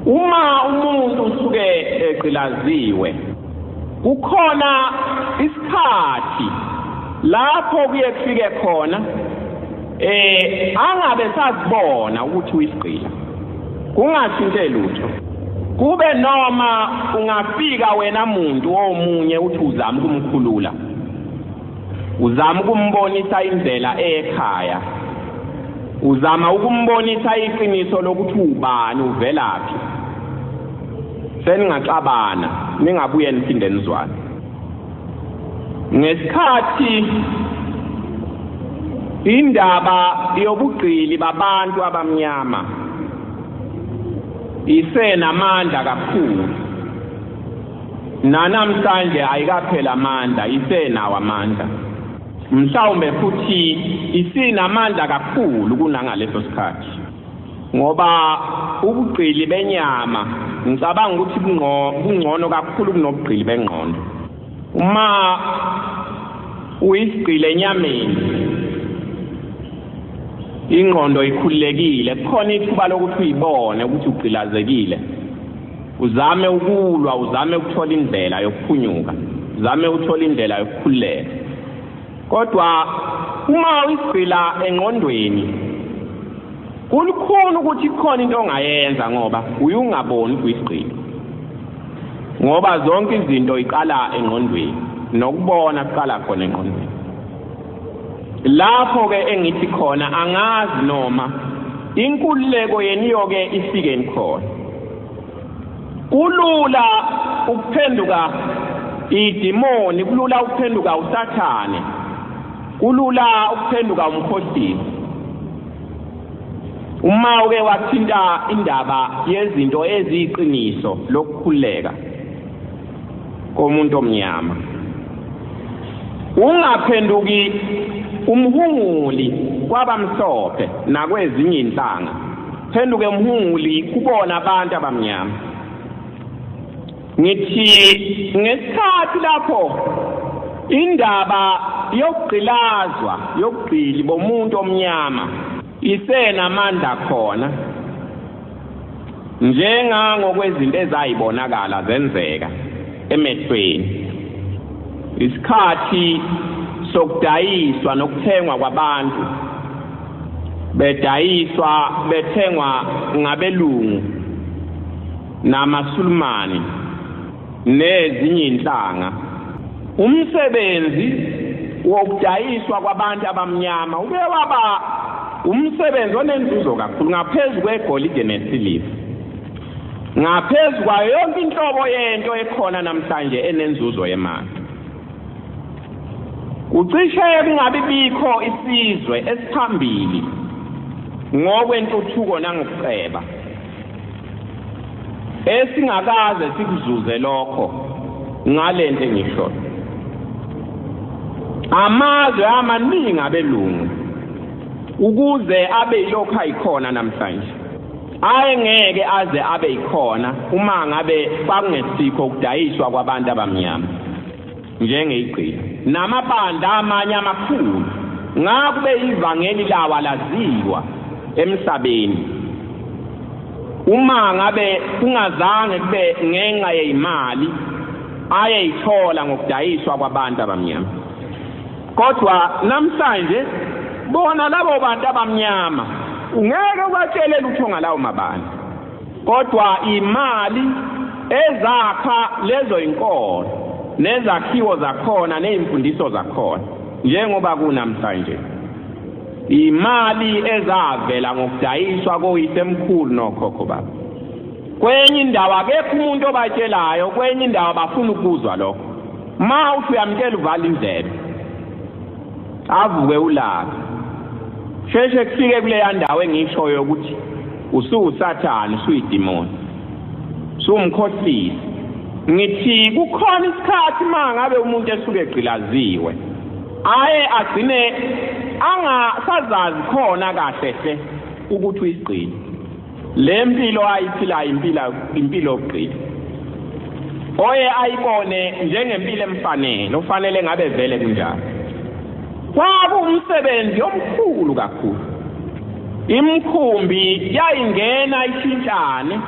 uma umuntu usuke egqilaziwe kukhona isikhathi lapho kuye kufike khona eh angabe sazibona ukuthi uyisigqila kungashintshe lutho kube noma ungafika wena muntu omunye uthi uzama ukumkhulula uzama ukumbonisa indlela ekhaya uzama ukumbonisa iqiniso lokuthi ubani uvelaphi seningaxabana ningabuye niphinde nizwane ngesikhathi indaba yobugqili babantu abamnyama isenamandla kakhulu nanamhlanje ayikapheli amandla isenawo amandla mhlawumbe futhi isinamandla kakhulu kunangaleso sikhathi ngoba ubugqili benyama ngicabanga ukuthi kungcono kakhulu kunobugqili bengqondo uma uyisigqile enyameni ingqondo ikhululekile kukhona ithuba lokuthi uyibone ukuthi ugqilazekile uzame ukulwa uzame ukuthola indlela yokuphunyuka uzame ukuthola indlela yokukhululeka kodwa uma uyigcila engqondweni kulukhulu ukuthi khona into ongayenza ngoba uyungaboni kwisigqila ngoba zonke izinto iqala engqondweni nokubona kuqala khona engqondweni lapho ke engithi khona angazi noma inkululeko yeniyo ke ifike nikhona kulula ukuphenduka idimoni kulula ukuphenduka usathane kulula ukuphenduka umkhohlisi uma uke wathinta indaba yezinto eziyiqiniso lokukhuleka komuntu omnyama ungaphenduki umhunguli kwabamhlophe nakwezinye inhlanga phenduke mhunguli kubona abantu abamnyama ngithi ngesikhathi lapho indaba yokugqilazwa yokugqili bomuntu omnyama isenamandla khona njengangokwezinto ezayibonakala zenzeka emehlweni isikhathi sokudayiswa nokuthengwa kwabantu bedayiswa bethengwa ngabelungu namasulumani nezinye inhlanga umsebenzi wokudayiswa kwabantu abamnyama ube waba umsebenzi onenzuzo kakhulu ngaphezu kwegolide nesiliva ngaphezu kwayo yonke inhlobo yento ekhona namhlanje enenzuzo yemali Kucishe kungabi bikho isizwe esiphambili ngokwentuthuko nangokuceba esingakaze sikuzuze lokho ngalento engisho amazwe amaningi abelungu ukuze abe yilokho ayikhona namhlanje ayengeke aze abe yikhona uma ngabe kwakungesikho ukudayiswa kwabantu abamnyama njengeyigqila namabandla amanye amakhulu ngakube ivangeli lawa laziwa emhlabeni uma ngabe kungazange kube ngenxa yeyimali ayeyithola ngokudayiswa kwabantu abamnyama Kodwa namhlanje bona labo bantu abamnyama ungeke ubatshele lutho ngalawo mabani. Kodwa imali ezakha lezo inkolo nezakhiwo zakhona nezimfundiso zakhona njengoba kunamhlanje. Imali ezavela ngokudayiswa koyisemkhulu nokhokho baba. Kwenye indawo akekho umuntu obatshelayo, kwenye indawo bafuna ukuzwa lokho. ma uthi uyamtshela uvala indlebe avuke ulaka sheshe kufike kuleya ndawo engishoyo ukuthi usuwusathane usuyidimoni sumkhohlisi ngithi kukhona isikhathi uma ngabe umuntu esuke egqilaziwe aye agcine angasazazi khona kahle hle ukuthi uyisigqile le mpilo ayiphilayo impila impilo yokuqila oye ayibone njengempilo emfanele ufanele ngabe vele kunjalo kwakuwumsebenzi omkhulu kakhulu imkhumbi yayingena ishintshane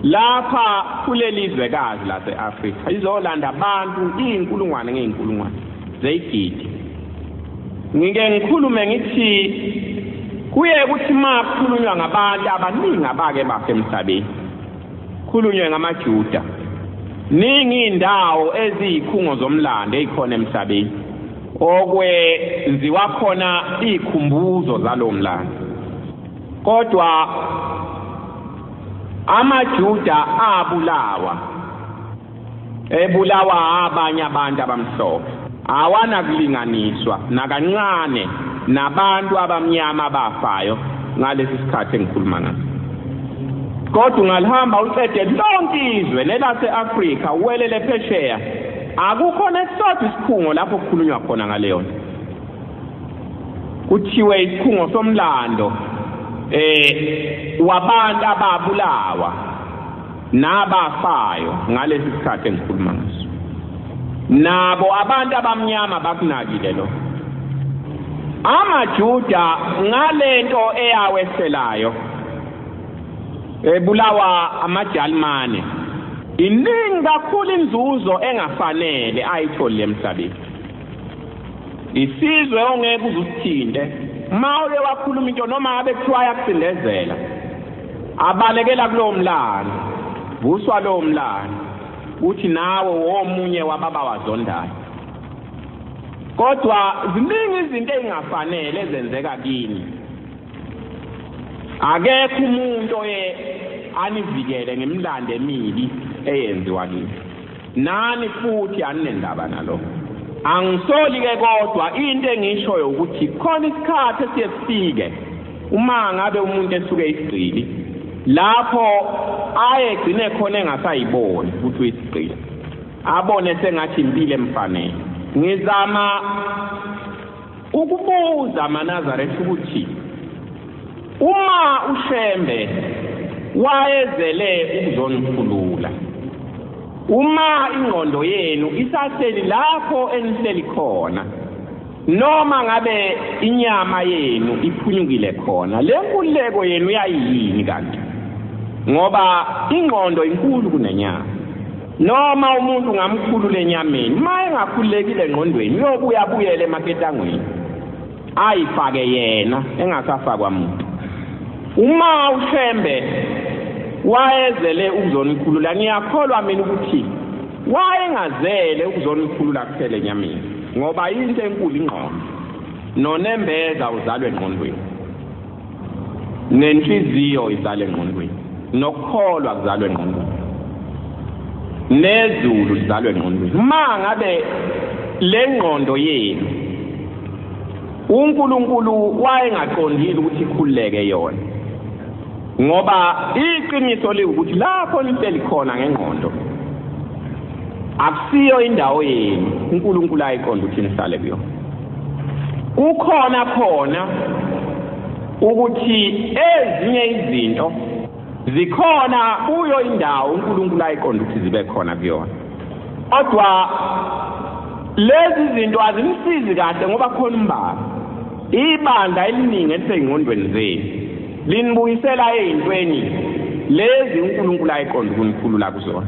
lapha kuleli zwekazi lase-afrika izolanda abantu iy'nkulungwane ngey'nkulungwane zeyigidi ngike ngikhulume ngithi kuye ukuthi makhulunywa ngabantu abaningi abake bafe emhlabeni khulunywe ngamajuda ningi indawo eziyikhungo zomlando ezikhona emhlabeni okwenziwa khona izikhumbuzo zalo mlando kodwa amajuda abulawa ebulawa abanye abantu abamhlophe awanakulinganiswa nakancane nabantu abamnyama abafayo ngalesi sikhathi engikhuluma ngaso kodwa ungalihamba uqede lonke izwe nelase-afrika uwelele phesheya akukho nesisodwa isikhungo lapho kukhulunywa khona ngaleyo nto kuthiwe isikhungo somlando eh wabantu ababulawa nabafayo ngalesi sikhathi engikhuluma ngaso nabo abantu abamnyama bakunakile lo amajuda ngalento eyaweselayo ebulawa amajalimane iningi kakhulu inzuzo engafanele ayitholi emhlabeni isizwe ongeke uzusithinte uma uye wakhuluma into noma abe kuthiwa yakusindezela abalekela kulowo mlando vuswa lowo mlando uthi nawe womunye wababa wazondayo kodwa ziningi izinto ezingafanele ezenzeka kini akekho umuntu oye anivikele ngemlando emibi eyenziwa kini nani futhi aninendaba nalo angisoli ke kodwa into engishoyo ukuthi khona isikhathi esiye sifike uma ngabe umuntu esuke isigqili lapho aye gcine khona engasayiboni ukuthi uyisigqili abone sengathi impilo emfanele ngizama ukubuza amanazaretha ukuthi uma ushembe wayezele ukuzonikhulula uma ingqondo yenu isahleli lapho enihleli khona noma ngabe inyama yenu iphunyukile khona le nkululeko yenu yayiyini kanti ngoba ingqondo inkulu kunenyama Noma umuntu ngamkhulu lenyameni, maye ngakhulekile ngqondweni uyobuya buyele emaketangweni. Ayifake yena engasafakwa muntu. Uma uShembe wayezele ukuzonikhulula ngiyakholwa mina ukuthi wayengazele ukuzonikhulula kuphela enyameni ngoba into enkulu ingqondo nonembeza uzalwe ngqondweni nenhliziyo izala engqondweni nokukholwa kuzalwa engqondweni nezulu lizalwa engqondweni uma ngabe le ngqondo yenu uNkulunkulu wayengaqondile ukuthi ikhuleke yona ngoba iqiniso liwukuthi lapho lihleli khona ngengqondo akusiyo indawo yenu uNkulunkulu ayiqonda ukuthi nihlale kuyo kukhona khona ukuthi ezinye izinto zikhona kuyo indawo uNkulunkulu ayiqonda ukuthi zibe khona kuyona kodwa lezi zinto azimsizi kahle ngoba khona umbala ibandla eliningi elisengqondweni zenu linibuyisela ezintweni lezi uNkulunkulu ayiqonda ukunikhulula kuzona